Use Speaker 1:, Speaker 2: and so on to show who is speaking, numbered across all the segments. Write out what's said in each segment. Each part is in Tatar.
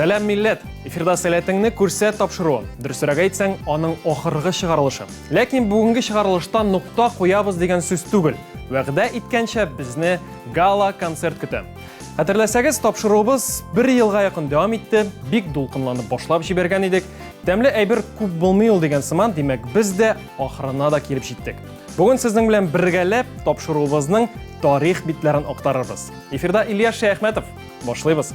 Speaker 1: Сәләм милләт! Эфирда сәләтеңне күрсәт тапшыруы. Дөресрәк әйтсәң, аның ахыргы чыгарылышы. Ләкин бүгенге чыгарылышта нокта куябыз дигән сүз түгел. Вәгъдә иткәнчә безне гала концерт көтә. Хәтерләсәгез, тапшыруыбыз бер елга якын дәвам итте. Бик дулкынланып башлап җибәргән идек. Тәмле әйбер күп булмый ул дигән сыман, димәк, без дә ахырына да килеп җиттек. Бүген сезнең белән бергәләп тапшыруыбызның тарих битләрен актарырбыз. Эфирда Ильяс Шәяхмәтов. Башлыйбыз.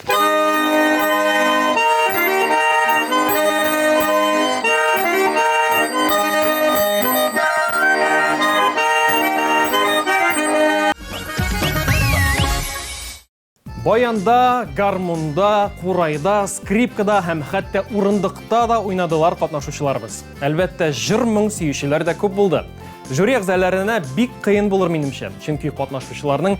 Speaker 1: Баянда, гармунда, курайда, скрипкада һәм хәтта урындыкта да уйнадылар катнашучыларыбыз. Әлбәттә, җыр моң сөючеләр дә күп булды. Жюри әгъзаларына бик кыен булыр минемчә, чөнки катнашучыларның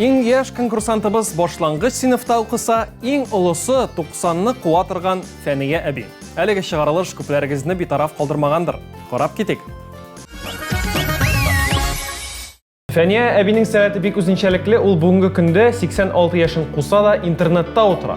Speaker 1: Иң яшь конкурсантыбыз башлангыч сыйныфта укыса, иң олысы 90-ны куа торган Фәния әби. Әлеге чыгарылыш күпләрегезне битараф калдырмагандыр. Карап китик. Фәния әбинең сәләте бик үзенчәлекле, ул бүгенге көндә 86 яшен куса да интернетта утыра.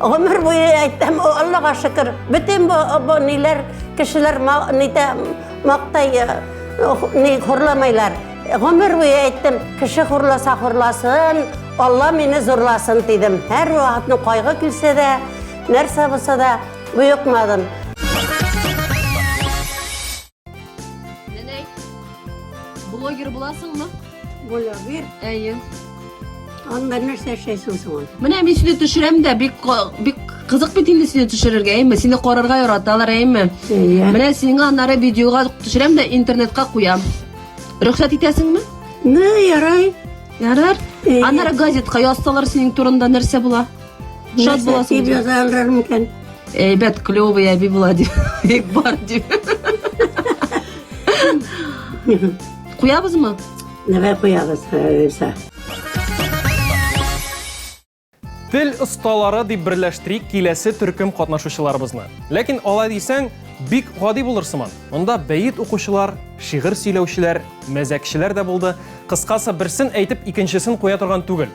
Speaker 2: Гомер буе әйтәм, Аллага шөкер, бөтен бу, бу ниләр, кешеләр нидә мактай, ни хурлымайлар. Гомер буе әйттем, кеше хурласа хурласын, Алла мине зурласын дидем. Һәр вакытны кайгы килсә дә, нәрсә булса да, буйыкмадым.
Speaker 3: Нәнәй, блогер буласыңмы? Блогер?
Speaker 2: Әйе. Анда нәрсә эшләйсең соң? Менә мин сине төшерәм
Speaker 3: дә, бик бик кызык бит инде сине төшерергә, әйме? Сине карарга яраталар, әйме? Әйе. Менә сиңа аннары видеога төшерәм дә интернетка куям. Рөхсәт итәсеңме? Ну, ярай.
Speaker 2: Ярар.
Speaker 3: Аннары газетка язсалар синең турында нәрсә була? Шат буласың. Нәрсә яза алыр микән?
Speaker 2: Әйбәт, клёвый
Speaker 3: әби була дип. Бик бар дип. Куябызмы? Нәбә куябыз,
Speaker 2: Рәйсә.
Speaker 1: Тел осталары дип берләштерик киләсе төркем катнашучыларыбызны. Ләкин алай дисәң, бик гади булыр сыман. Монда бәет укучылар, шигырь сөйләүчеләр, мәзәкчеләр дә булды. Кыскасы, берсен әйтеп, икенчесен куя торган түгел.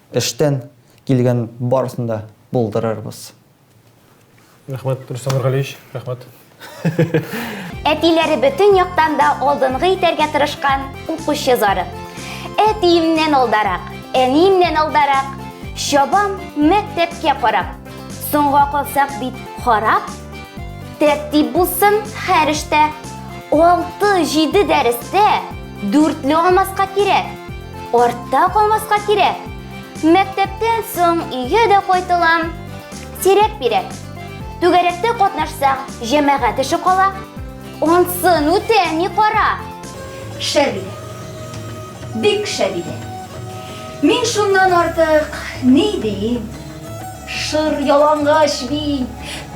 Speaker 4: Эштән килгән барысын да булдырырбыз.
Speaker 1: Рәхмәт, Рөстәм Нургалиевич, рәхмәт. Әтиләре
Speaker 5: бөтен яктан да алдынгы итәргә тырышкан укучы зары. Әтиемнән алдарак, әниемнән алдарак, чабам мәктәпкә карап. Соңга калсак бит харап. Тәртип булсын һәр эштә, алты-җиде дәрестә. Дүртле алмаска кирәк. Артта калмаска кирәк. Мәктәптән соң өйгә дә кайтылам. Сирәк бирәк. Түгәрәктә катнашсаң, җәмәгать эше кала. Ансын үтә, ни кара. Шәбилә.
Speaker 6: Бик шәбилә. Мин шуннан артык ни диим? Шыр ялангач мин,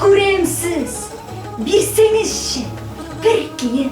Speaker 6: күрәмсез. Бирсәңезче, бер кием.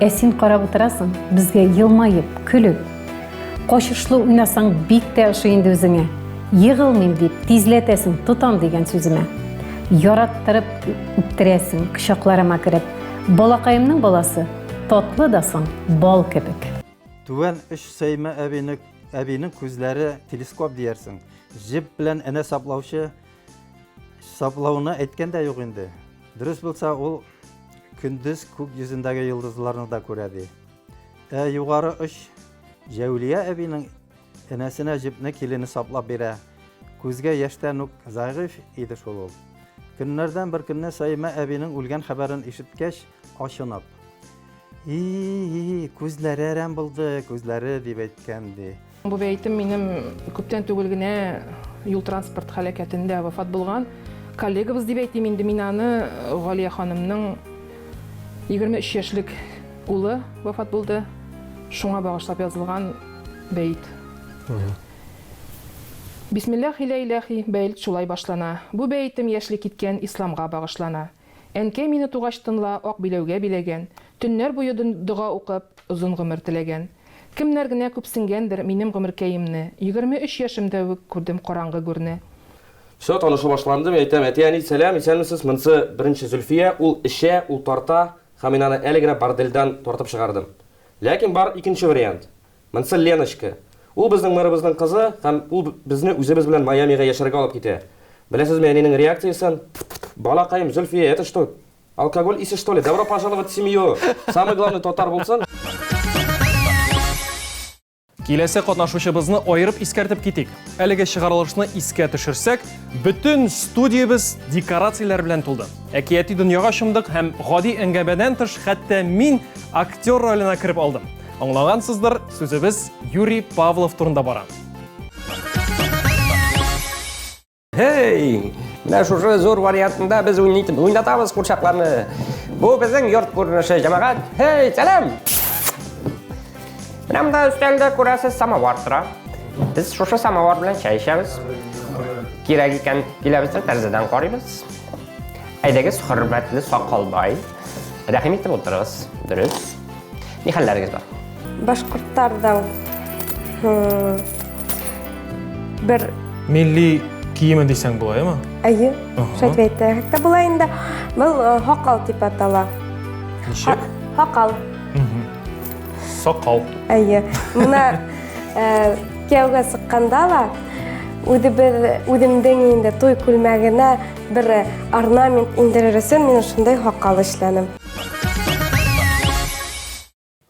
Speaker 7: Ә син карап утырасың, безгә елмаеп, көлеп. Качышлы уйнасаң, бик тә ошый инде үзеңә. Егылмыйм дип, тизләтәсең, тотам дигән сүземә. Яраттырып үптерәсең, кочакларыма кереп. Балакаемның баласы, татлы да соң, бал кебек. Түбән өч
Speaker 8: Сәймә әбине әбинең күзләре телескоп диярсең. Җеп белән энә саплаучы Саплауны әйткән дә юк инде. Дөрес булса, ул көндез күк йөзендәге йолдызларны да күрә ди. Ә югары оч Җәүлия әбинең энәсенә җепне килене саплап бирә. Күзгә яшьтән үк зәгыйфь иде шул ул. Көннәрдән бер көнне Саимә әбинең үлгән хәбәрен ишеткәч, ачынып, и күзләре әрәм булды, күзләре, дип әйткән ди. Бу бәйтем минем
Speaker 9: күптән түгел генә юл транспорт халәкәтендә вафат булган коллегабыз дип әйтим инде мин аны Галия ханымның 23 яшьлек улы вафат булды. Шуңа багышлап язылган бәйт. Бисмиллах илә иләхи бәйт шулай башлана. Бу бәйтем яшьли киткән исламга багышлана. Әнкәй мине тугач тынла ак биләүгә биләгән, төннәр буе дога укып, озын гомер теләгән. Кемнәр генә күпсенгәндер минем гомеркәемне. Егерме өч яшемдә үк күрдем караңгы гүрне. Все, танышу
Speaker 10: башланды, мин әйтәм, әти-әни, сәлам, исәнмесез, монсы беренче Зөлфия, ул эчә, ул тарта һәм мин аны әле генә бордельдән тартып чыгардым. Ләкин бар икенче вариант. Монсы Леночка. Ул безнең мэрыбызның кызы һәм ул безне үзебез белән Майамига яшәргә алып китә. Беләсезме әнинең реакциясен? Тф-тф-тф, балакаем, Зөлфия, это что? Алкоголь исе что ли? Добро пожаловать в семью! Самый главный татар булсын!
Speaker 1: Киләсе катнашучыбызны аерып искәртеп китик. Әлеге чыгарылышны искә төшерсәк, бөтен студиябез декорацияләр белән тулды. Әкияти дөньяга чумдык һәм гади әңгәмәдән тыш хәтта мин актер роленә кереп алдым. Аңлагансыздыр, сүзебез Юрий Павлов турында бара.
Speaker 11: Һей! Менә шушы зур вариантында без уйнайтын, уйнатабыз курчакларны. Бу безнең йорт күренеше, җәмәгать. Һей, сәлам! Менә монда өстәлдә күрәсез самовар тора. Без шушы самовар белән чәй эчәбез. Кирәк икән, киләбез дә тәрәзәдән карыйбыз. Әйдәгез, хөрмәтле сакалбай. Рәхим итеп утырыгыз. Дөрес. Ни хәлләрегез бар? Башкортлардан
Speaker 5: бер милли
Speaker 1: киеме дисәң була, яме? Әйе.
Speaker 5: Шәт әйтә. Хәтта була инде. Был хакал дип атала. Ничек?
Speaker 1: Хакал.
Speaker 5: Сакал.
Speaker 1: Әйе. Мына
Speaker 5: кияүгә сыкканда ла үзебез үземдең инде туй күлмәгенә Бер орнамент индерересен мин шундай хаккал эшләнем.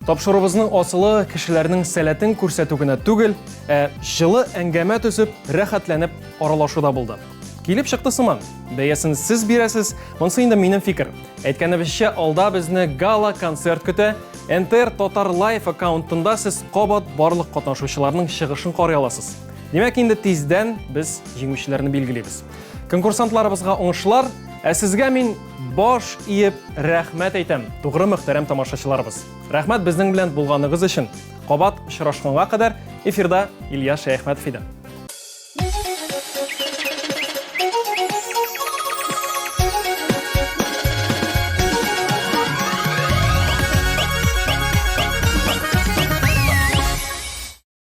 Speaker 1: Тапшырубызның асылы кешеләрнең сәләтен күрсәтү генә түгел, ә җылы әңгәмә төзеп, рәхәтләнеп аралашуда булды. Килеп чыкты сыман. Бәясен сез бирәсез, монсы инде минем фикер. Әйткәнебезчә, алда безне гала концерт көтә. НТР Татар Лайф аккаунтында сез кабат барлык катнашучыларның чыгышын карый аласыз. Димәк, инде тиздән без җиңүчеләрне билгелибез. Конкурсантларыбызга уңышлар, ә сезгә мин баш иеп рәхмәт әйтәм. Тугры мөхтәрәм тамашачыларыбыз. Рәхмәт безнең белән булганыгыз өчен. Кабат очрашканга кадәр эфирда Илья Шәяхмәтов иде.